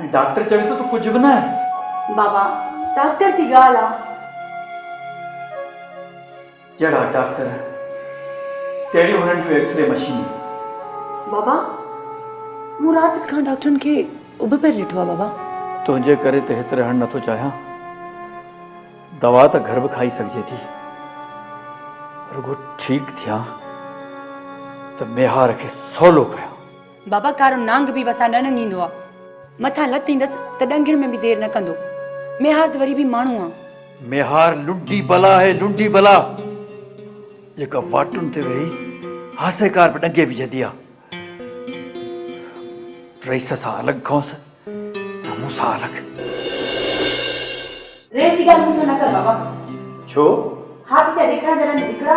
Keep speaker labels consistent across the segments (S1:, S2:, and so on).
S1: ۽ Doctor چوي ٿو ته ڪجهه به ناهي. بابا،
S2: ڊاڪٽر جي
S1: ڳالهه آ. جهڙا ڊاڪٽر، تهڙيون هنن جون ايڪسري مشينون. بابا،
S2: مون رات کان ڊاڪٽرن کي اڀ پير ڏٺو آ بابا. تنهنجي ڪري ته
S1: هت رهڻ نٿو چاهيان. دوا ته گهر به کائي سگهجي ٿي. رڳو ٺيڪ ٿيان ته ميهار کي سولو ڪيان. بابا ڪارو
S2: نانگ به وسان نه ننگهيندو آ. مٿان لت ايندس ته ڏنگهڻ ۾ به دير نه ڪندو. ميهار ته وري به ماڻهو آ. ميهار لنڊي
S1: بلا آهي، لنڊي بلا، جيڪا واٽن تي ويهي هاسيڪار به ڏنگهي وجهندي آ. رئيس سان الڳ ڪونس. ته مون سان الڳ.
S2: ريس جي ڳالهه مون سان نه ڪر بابا. ڇو؟
S1: ها ته سيء
S2: ڏيکارڻ جا رنگ هڪڙا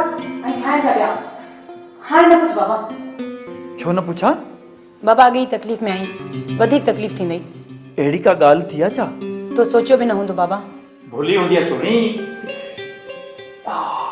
S2: ۽ ٺاهڻ جا ٻيا. هاڻي نه پڇ بابا. ڇو نه
S1: پڇان؟ بابا اڳي ئي
S2: تڪليف ۾ آهين. وڌيڪ تڪليف ٿيندئي. اهڙي ڪا ڳالهه
S1: ٿي آ ڇا؟ تو سوچيو به نه
S2: هوندو بابا. ڀلي هونديء
S1: سهڻي. آه.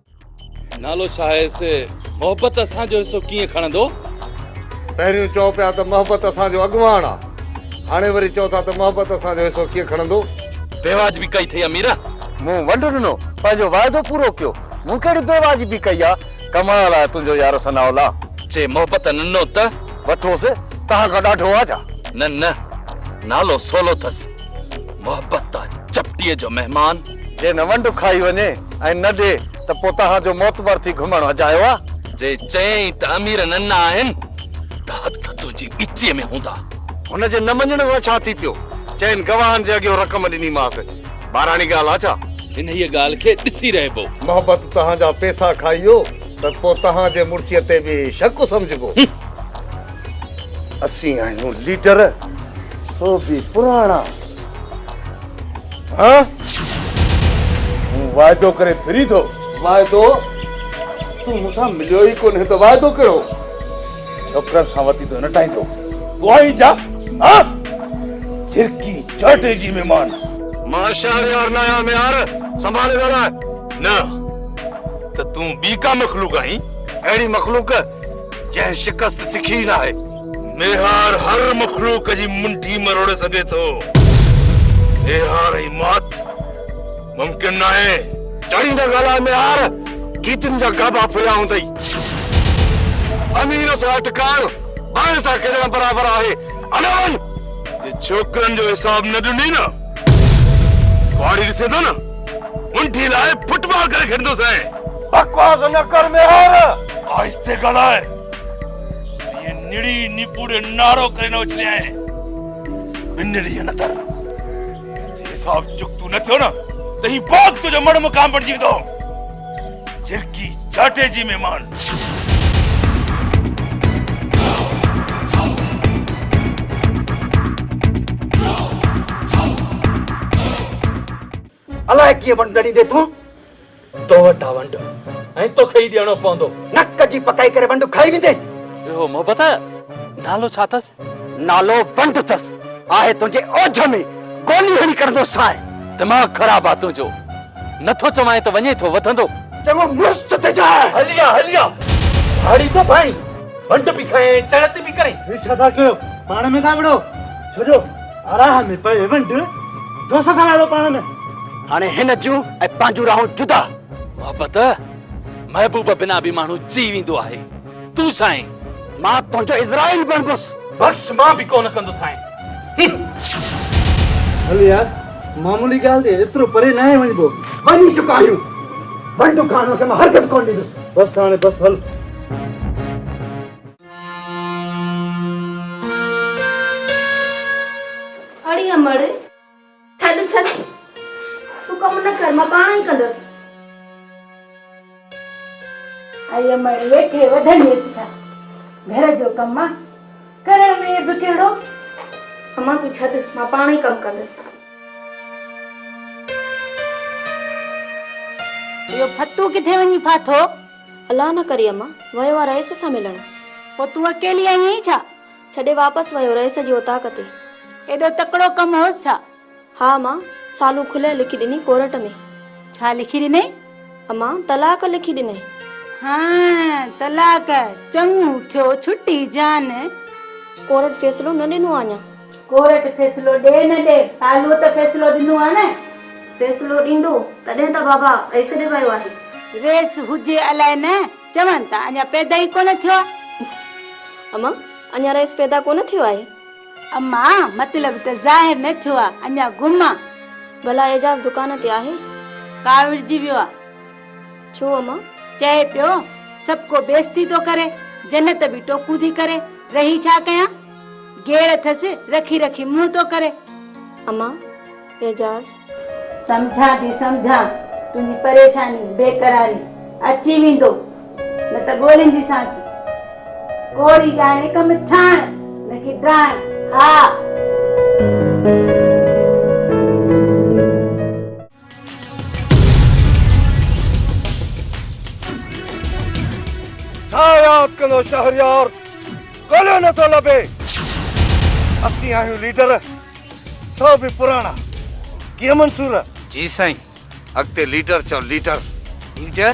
S3: نالو ڇا آهي سي محبت اسان جو حصو ڪيئن کڻندو؟ پهريون
S4: چئو پيا ته محبت اسان جو اڳواڻ آ هاڻي وري چئو ٿا ته محبت اسان جو حصو ڪيئن کڻندو؟ بيواجبي ڪئي
S3: اٿئي اميره. مون ونڊ ڏنو
S5: پنهنجو واعدو پورو ڪيو مون ڪهڙي بيواجبي ڪئي آ ڪمال آهي تنهنجو يار ثناء الله. چي محبت
S3: ننو ته. وٺوس
S5: تهان کان ڏاڍو آ ڇا؟ نه نه
S3: نالو سولو ٿس. محبت تان چپٽيء جو مهمان. جي نه ونڊ کائي
S5: وڃي ۽ نه ڏي ته پوء توهان جو معتبر ٿي گهمڻ اجايو آ. جي چيائين ته
S3: امير ننڍا آهن ته هٿ تنهنجي ڳچيء ۾ هوندا. هن جي نه مڃڻ
S5: سان ڇا ٿي پيو؟ چئن گواهن جي اڳيون رقم ڏنيمانس. ٻاراڻي ڳالهه آ ڇا؟ انهيء ڳالهه کي
S3: ڏسي رهبو. محبت توهان جا
S4: پيسا کائي ويو. ته پوء توهان جي مڙسيء تي به شڪ سمجهبو. اسين آهيون ليڊر، سو به پراڻا. ها؟ مون واعدو ڪري ڦري ٿو. واعدو؟ تون مون سان مليو ئي ڪونهي ته واعدو ڪهڙو؟ ڇوڪرن سان وتي ٿو نٽائيندو. تون آهين ڇا؟ ها؟ جرڪي جاٽي جي مهمان. مان شهريار
S5: ناهيان ميار، سنڀالي ڳالهاء. نه.
S6: ته تون ٻي ڪا مخلوق آهين. اهڙي مخلوق
S5: جنهن شڪست سکي ئي ناهي. ميهار
S6: هر مخلوق جي منڍي مروڙي سگهي ٿو. ميهار ۽ موت ممڪن ناهي. ٽڙي نه ڳالهاء
S5: ميهار، گيتن جا گابا ڦريا هوندئي. امير سان اٽڪائڻ ٻانهين سان کيڏڻ برابر آهي. عليون! جي
S6: ڇوڪرن جو حساب نه ڏني نه، ڪهاڙي ڏسين ٿا نه. منڊي لاء فٽ بال ڪري کيڏندو سين. بڪواس نه
S5: ڪر ميهار. آهستي ڳالهاء.
S6: ائين نڙي نيپوڙي نعرو ڪري نه اڇلي آهين. ٻن ڏينهن اندر جي حساب چڪتو نه ٿيو نه ته هي باغ تنهنجو مڙ مقام بڻجي ويندو. جرڪي جاٽي جي مهمان.
S7: الائي ڪيئن ونڊ ڏڙيندي تون. تو
S1: وٽ آ ونڊ ۽ توکي ئي ڏيڻو پوندو. نڪ جي پڪائي ڪري
S7: ونڊ کائي ويندين. اهو محبت آ؟
S3: نالو ڇا اٿس؟ نالو ونڊ
S7: اٿس. آهي تنهنجي اوجهه ۾ گولي هڻي ڪڍندو سانء. دماغ خراب
S3: آ تنهنجو. نه ٿو چوانء ته وڃي ٿو وڌندو. چڱو مڙس چت
S7: تي جاء. هلي آ هلي آ.
S1: ڌاڙي ٿو ڀائين. ونڊ به کائين ۽ چڙت به ڪرين. هي ڇا ٿا ڪيو؟
S8: پاڻ ۾ ٿا وڙهو. ڇڏيو. راهه ۾ پئي ونڊ، دو سگهر اهڙو پاڻ ۾. هاڻي هن جون
S7: ۽ پنهنجون راهون جدا. محبت،
S3: محبوب بنا به ماڻهو چئي ويندو آهي. تون سائين. مان تنهنجو
S7: عزرائيل بڻبس. بخش، مان به ڪونه
S1: ڪندس سائين. هه.
S8: هل يار، معمولي ڳالهه تي ايترو پري ناهي وڃبو. وڃي چڪا آهيون.
S7: ونڊ ڪانوء کي مان هرگز ڪونه ڏيندس. بس هاڻي بس هل.
S9: اڙي امڙ ڇڏ ڇڏ تون ڪم نه ڪر مان پاڻ ئي ڪندس
S2: اي امڙ ويٺي وڌڻي سا گھر جو ڪم آ ڪرڻ ۾ به ڪهڙو اما
S9: تون ڇڏ مان پاڻ ئي ڪم ڪندس
S2: اهو ڦتو ڪٿي وڃي ڦاٿو الله نه ڪري
S9: امان ويو آ رئيس سان ملڻ. پوء تون اڪيلي
S2: آئي هئين ڇا؟ ڇڏي واپس
S9: ويو رئيس جي اوطاق تي. ايڏو تڪڙو
S2: ڪم هوس ڇا؟ ها امان
S9: سالون کلئي لکي ڏني ڪورٽ ۾. ڇا لکي
S2: ڏنئي؟ امان طلاق
S9: لکي ڏنئي. هانء
S2: طلاق! چڱو ٿيو ڇٽي جان. ڪورٽ
S9: فيصلو نه ڏنو آ اڃان.
S2: ڪورٽ فيصلو ڏي نه
S9: ڏي سالوء ته فيصلو ڏنو آهي نه. فيصلو
S2: ڏيندو تڏهن ته بابا ايس ڏيرايو آهي. ريس هجي الائي نه چون ته اڃا پيدا ئي ڪونه ٿيو آهي.
S9: امان، اڃا رئيس پيدا ڪونه ٿيو آهي. امان،
S2: مطلب ته ظاهر نه ٿيو آهي اڃا گم آهي. ڀلا اعجاز
S9: دڪان تي آهي. ڪاوڙجي ويو
S2: آهي. ڇو امان؟
S9: چئي پيو
S2: سڀڪو بيستي ٿو ڪري جنت به ٽوڪون ٿي ڪري رهي ڇا ڪيان. گيڙ اٿس رکي رکي منهن ٿو ڪري. امان،
S9: اعجاز.
S2: سمجهان ٿي سمجهان تنهنجي پريشاني بيقراري اچي ويندو نه ته ڳولينديسانس ڪوڙي ڄاڻي ڪم ٺاهڻ نه ڪي ڊاهڻ ها.
S4: ڇا ياد ڪندو شهريار ڳوليو نه ٿو لڀي اسين آهيون ليڊر سو به پراڻا ڪيئن منصور جي سائين
S5: اڳتي ليڊر چئو ليڊر ليڊر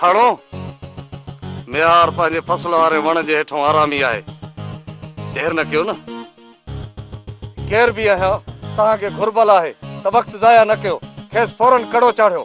S5: ٿڙو، ميار پنهنجي فصل واري وڻ جي هيٺون آرامي آهي. دير نه ڪيو نه. ڪير به آهيان، توهان کي گهربل آهي ته وقت ضايع نه ڪيو. کيس فورن ڪڙو چاڙهيو.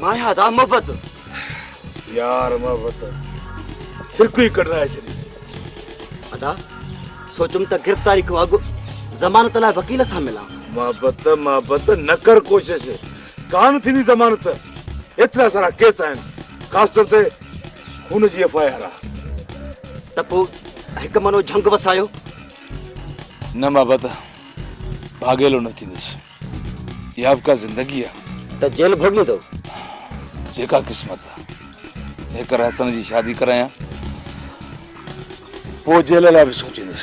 S4: مايا دا
S7: محبت
S4: يار محبت ڇرڪ ئي ڪڍرائي ڇڏي. ادا
S7: سوچيم ته گرفتاري کان اڳ ضمانت لاء وڪيل سان ملان. محبت محبت
S4: نه ڪر ڪوشش ڪانه ٿيندي ضمانت ايترا سارا ڪيس آهن خاص طور تي خون جي ايف آء آر آ. ته پو
S7: هڪ منو جهنگ وسايو.
S4: نه محبت ڀاڳيلو نه ٿيندس. يا به ڪا زندگي آ. ته جيل ڀوڳين
S7: ٿو. جيڪا
S4: قسمت آ. جيڪر حسن جي شادي ڪرايان پوء جيل لاء به سوچيندس.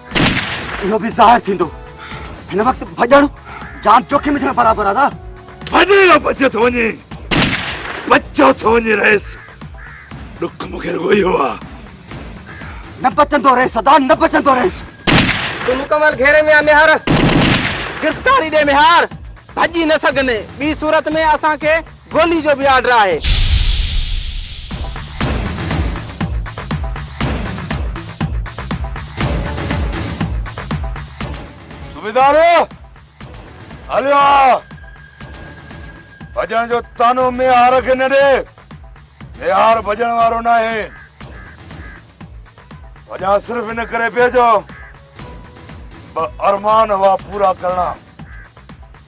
S4: اهو به
S7: ظاهر ٿيندو هن وقت ڀڄڻ جان جوکم وجهڻ برابر آ داد ڀڄي نه بچي
S4: ٿو وڃي بچو ٿو وڃي رئيس ڏک مونکي رڳو اهو آ
S7: نه بچندو رئيس ادا نه بچندو رئيس تون مڪمل
S8: گهيري ۾ آ ميهار گرفتاري ڏي ميهار ڀڄي نه سگهندي ٻي صورت ۾ اسان کي گولي
S6: جو به آرڊر آهي. صوبيدار هليو آ. ڀڄڻ جو طعنو ميهار کي نه ڏي. ميهار ڀڄڻ وارو ناهي. ڀڄان صرف ان ڪري پيو جو ٻه ارمان هئا پورا ڪرڻا.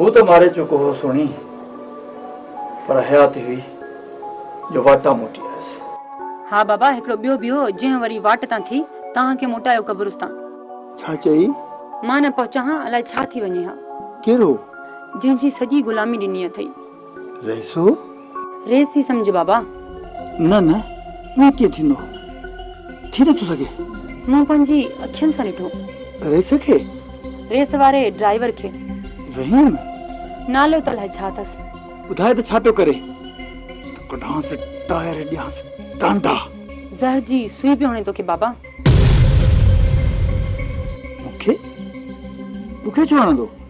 S2: هو
S1: ته ماري چڪو هو سهڻي، پر حياتي هئي جو واٽان موٽي آيس. ها بابا
S2: هڪڙو ٻيو به هو، جنهن وري واٽ تان ٿي توهان کي موٽايو قبرستان. ڇا چئي؟
S7: مان نه پهچان
S2: ها، الائي ڇا ٿي وڃي ها. ڪير هو؟
S7: جنهن جي
S2: سڄي غلامي ڏني اٿئي. رئيسو!
S7: رئيس
S2: ئي سمجهه بابا. نه نه
S7: ائين ڪيئن ٿيندو. ٿي نٿو سگهي. مون پنهنجي
S2: اکين سان ڏٺو. رئيس کي؟
S7: رئيس واري
S2: ڊرائيور کي. رحيم!
S7: نالو
S2: ته الائي ڇا اٿس. ٻڌاء ته ڇا پيو
S7: ڪري. ته ڪڍانس ٽائر ڏيانس ٽانڊا. زهر جي
S2: سوئي پيو هڻي توکي بابا. مون
S7: کي؟ مون کي ڇو هڻندو.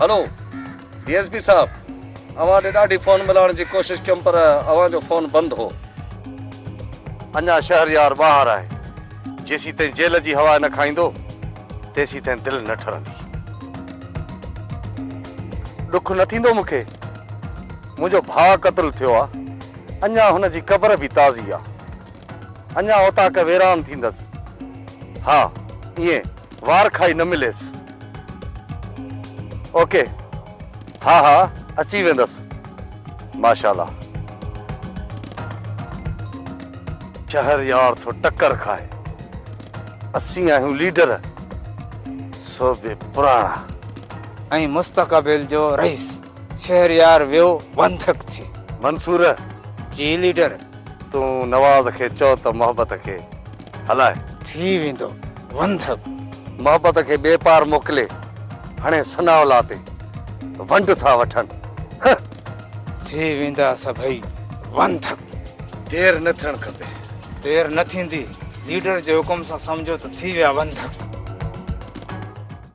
S5: هلو ڊي ايس پي صاحب اوهان ڏي ڏاڍي فون ملائڻ جي ڪوشش ڪيم پر اوهان جو فون بند هو. اڃا شهريار ٻاهر آهي جيسين تائين جيل جي هوا نه کائيندو تيسين تائين دل نه ٺرندي. ڏک نه ٿيندو مون کي منهنجو ڀاء قتل ٿيو آ اڃا هن جي قبر به تازي آ. اڃا اوطاق ويران ٿيندس. ها ائين وار کائي نه مليس. اوڪي ها ها اچي ويندس ماشاالله. شهر يار ٿو ٽڪر کائي. اسين آهيون ليڊر صوبي پراڻا. ۽ مستقبل
S8: جو رئيس. شهريار ويو وانڌڪ ٿي. منصور!
S5: جي
S8: ليڊر. تون نواز
S5: کي چئو ته محبت کي هلائي. ٿي ويندو
S8: وندب. محبت کي
S5: ٻي پار موڪلي هڻي ثناء الله تي ونڊ ٿا وٺن هه. ٿي
S8: ويندا سڀئي وندب. دير نه
S5: ٿيڻ کپي. دير نه ٿيندي.
S8: ليڊر جي حڪم سان سمجهو ته ٿي ويا وندب.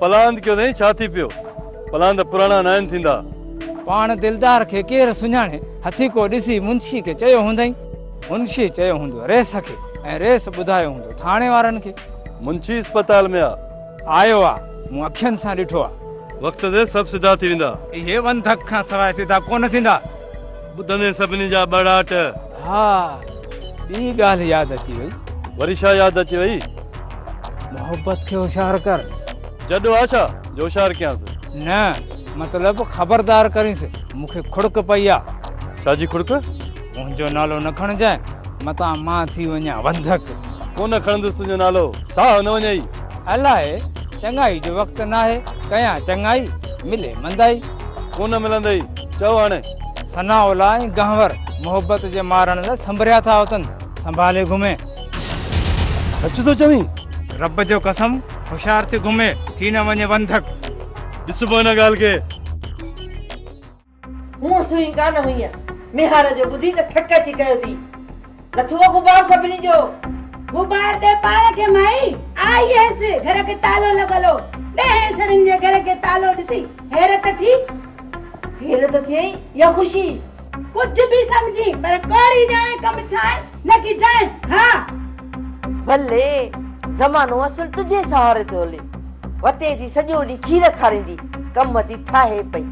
S8: پلاند ڪيو اٿئي
S6: ڇا ٿي پيو. پلاند پراڻا ناهن ٿيندا. پاڻ دلدار
S8: کي ڪير سڃاڻي. هٿي ڪو ڏسي منشي کي چيو هوندئي. منشي چيو هوندو ريس کي. ۽ ريس ٻڌايو هوندو ٿاڻي وارن کي. منشي اسپتال
S6: ۾ آ. آيو آ. مون
S8: اکين سان ڏٺو آ. وقت تي سڀ
S6: سڌا ٿي ويندا. اهي ونڌڪ کان
S8: سواء سڌا ڪونه ٿيندا. ٻڌندي
S6: سڀني جا ٻڙاٽ. ها
S8: ٻي ڳالهه ياد اچي وئي. وري ڇا ياد اچي
S6: وئي؟ محبت
S8: کي هوشيار ڪر. جڏو آ ڇا
S6: جو هوشيار ڪيانس. نه
S8: مطلب خبردار ڪرينس مون کي کڙڪ پئي آ. ڇا جي کڙڪ؟ منهنجو نالو نه کڻجانء متان مان ٿي وڃان وندڪ. ڪونه کڻندس
S5: تنهنجو نالو ساهه نه وڃئي. الاء
S8: چڱائي جو وقت ناهي ڪيان چڱائي ملي مندائي. ڪونه ملندئي
S5: چئو هاڻي. ثناء الله ۽
S8: گهنور محبت جي مارڻ لاء سنڀريا ٿا اتن سنڀالي گهمي.
S5: سچ ٿو چوين؟ رب جو قسم
S8: هوشيار ٿي گهمي ٿي نه وڃي وندڪ. ڏس پوء ان
S5: ڳالهه کي.
S10: هونء سوئي ڪانه هئينء. ميهار جو ٻڌي ته ٿڪ اچي ڪيو ٿي. لٿو غبار سڀني جو. غبار
S2: ڏي پاڻ کي مائي. آئي هيس گهر کي تالو لڳل هو. ڏهين سرين جي گهر کي تالو ڏسي حيرت ٿي. حيرت
S10: ٿئي يا خوشي؟ ڪجهه به
S2: سمجهي پر ڪوڙي ڄاڻي ڪم ٺاهڻ نه ڪي ڊائڻ. ها! بلي!
S10: زمانو اصل تنهنجي سهاري ٿو هلي. وتين ٿي سڄو ڏينهن کير کاريندي ڪم ٿي ٺاهي پئي.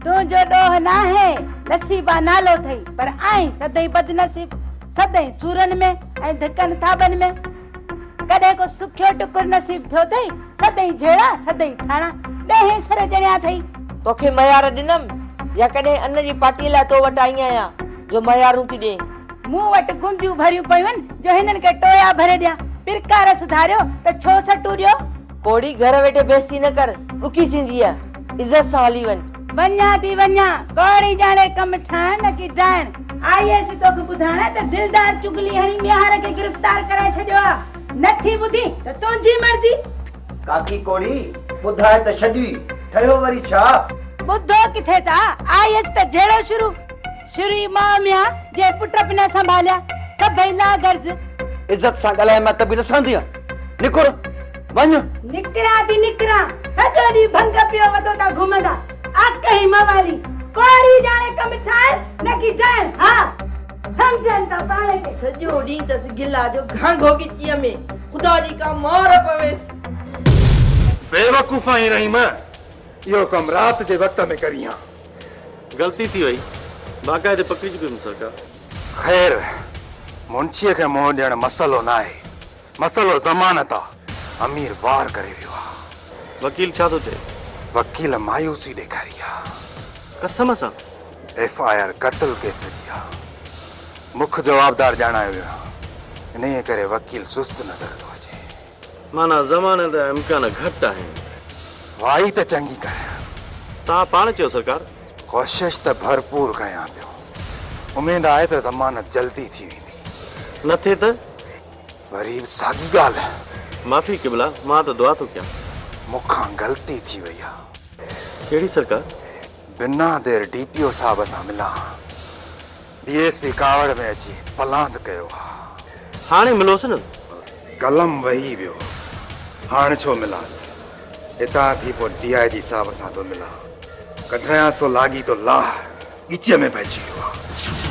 S10: تنهنجو ڏوهه
S2: ناهي. نصيبا نالو ٿئي. پر آهن سدائين بدنصيب، سدائين سورن ۾ ۽ ڌڪن ٿاٻن ۾. ڪڏهن ڪو سکيو ٽڪر نصيب ٿيو اٿئي، سدائين جهيڙا، سدائين ٿاڻا، ڏهين سر ڄڻيا اٿئي. توکي مهيار
S10: ڏنم يا ڪڏهن ان جي پاٽيء لاء تو وٽ آئي آهيان جو مهيارون ٿي ڏئين. مون وٽ گونديون
S2: ڀريون پيون آهن جو هنن کي ٽويا ڀري ڏيان، پرڪار سڌاريو ته ڇو سٽون ڏيو. ڪوڙي گهر ويٺي
S10: بيستي نه ڪر ڏکي ٿينديء عزت سان هلي وڃ. وڃان ٿي وڃان
S2: ڪوڙي ڄاڻي ڪم ٺاهڻ نه ڪي ڊاهڻ. آئي هيس توکي ٻڌائڻ ته دلدار چغلي هڻي ميهار کي گرفتار ڪرائي ڇڏيو آ نه ٿي ٻڌي ته تنهنجي مرضي. ڪاڪي
S7: ڪوڙي ٻڌاء ته ڇڏي ٺهيو وري ڇا. ٻڌو ڪٿي
S2: ٿا آئي هيس ته جهيڙو شروع. شري ماء ميان جي پٽ به نه سنڀاليا سڀئي لا غرض. عزت سان
S7: ڳالهاء مئي ته به نه سهندينء نڪر وڃ. نڪريان ٿي
S2: نڪريان سڄو ڏينهن ڀنگ پيو وڌو ٿا گهمندا اڪ هي موالي ڪوڙي ڄاڻي ڪم ٺاهڻ نه ڪي ڊائڻ ها سمجهن ٿا پاڻ کي. سڄو ڏينهن تس
S10: گلا جو گهانگهو ڳچيء ۾ خدا جي ڪا مار پويس. بيوقوفا
S6: هين رحيم اهو ڪم رات جي وقت ۾ ڪرين ها. غلطي
S5: ٿي وئي باقاعدي پڪڙي چڪي هيم سرڪار. خير
S6: منشيء کي منهن ڏيڻ مسئلو ناهي مسئلو ضمانت آ امير وار ڪري ويو آ. وڪيل ڇا ٿو چئي؟
S5: وڪيل
S6: مايوسي ڏيکاري آ. قسم سان؟
S5: ايف آء آر
S6: قتل ڪيس جي آ مک جوابدار ڄاڻايو ويو آ انهيء ڪري وڪيل سست نظر ٿو اچي. معنيٰ،
S5: زماني جا امڪان گهٽ آهن. وائي ته
S6: چڱي ڪريان. توهان پاڻ
S5: چيو سرڪار. ڪوشش ته
S6: ڀرپور ڪيان پيو. اميد آهي ته ضمانت جلدي ٿي ويندي. نه ٿئي ته؟
S5: وري به
S6: ساڳي ڳالهه. معافي قبلا،
S5: مان ته دعا ٿو ڪيان. مون کان
S6: غلطي ٿي وئي آهي. ڪهڙي سرڪار؟
S5: بنا
S6: دير ڊي پي او صاحب سان ملان ها. ڊي ايس پي ڪاوڙ ۾ اچي پلاند ڪيو، ها! هاڻي ملوس نه؟
S5: قلم وهي
S6: ويو، هاڻ ڇو ملانس؟ هتان ٿي پوء ڊي آء جي صاحب سان ٿو ملان، ڪڍرايانس ٿو لاڳيتو لاهه، ڳچيء ۾ پئجي
S10: ويو
S6: آهي.